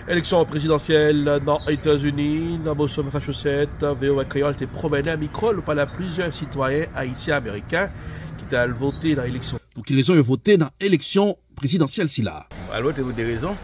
Eleksyon prezidansyèl nan Etazini, nan Boston, Masachousèt, voa Kreyòl te pwomennen mikwo l pale ak plizyè sitwayen ayisyen-ameriken ki te al vote nan eleksyon sa a. Pou ki rezon yo vote nan eleksyon prezidansyèl sila a? Mwen al vote pou 2 rezon,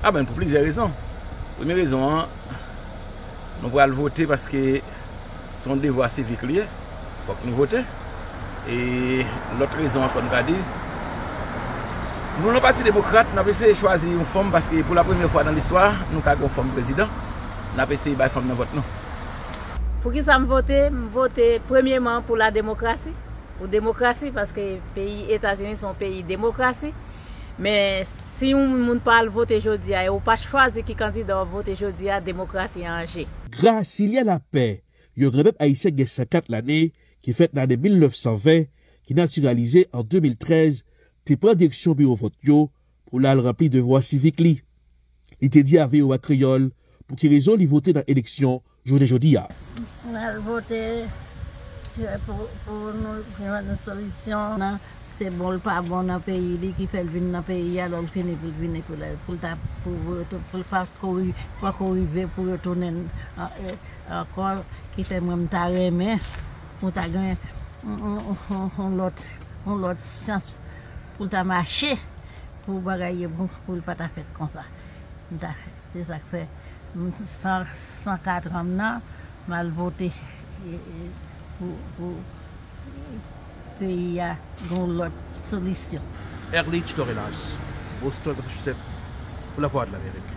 a menm pou plizyè rezon. Premye rezon an, mwen pral vote paske. se yon devwa sivik li ye, fòk nou vote. E lòt rezon ankò m ta di, nou nan pati demokrat, n ap eseye chwazi yon fanm paske pou la premyè fwa nan listwa, nou ka gen yon fanm prezidan, n ap eseye bay fanm nan vòt nou. Pou ki sa m vote? M vote premyeman pou la demokrasi, pou demokrasi paske peyi Etazini se yon peyi demokrasi. Men si yon moun pa al vote jodi a e ou pa chwazi ki kandida w ap vote jodi a, demokrasi an je. Grasilien Lapè, yon granmèt ayisyen ki gen 104 lane, ki fèt nan ane 1920, ki natiralize an 2013, te pran direksyon biwo vòt yo pou l al ranpli devwa sivik li. Li te di a voa Kreyòl pou ki rezon li vote nan eleksyon jounen jodi a. Mwen al vote pou nou jwenn solisyon nan Se bon l pa bon nan peyi li ki fè l vin nan peyi a lè l fini pou l vini pou l ta pou l pa poko rive pou yo tounen l ankò ki fè mwen m ta renmen pou l ta gen yon lòt yon lòt sans pou l ta mache pou bagay yo bon pou l pa ta fèt konsa m ta se sa k fè m san katran m nan m al vote pou Peyi a gen yon lòt solisyon. Erlich Torelas, Boston, Massachusetts, pou Lavwadlamerik.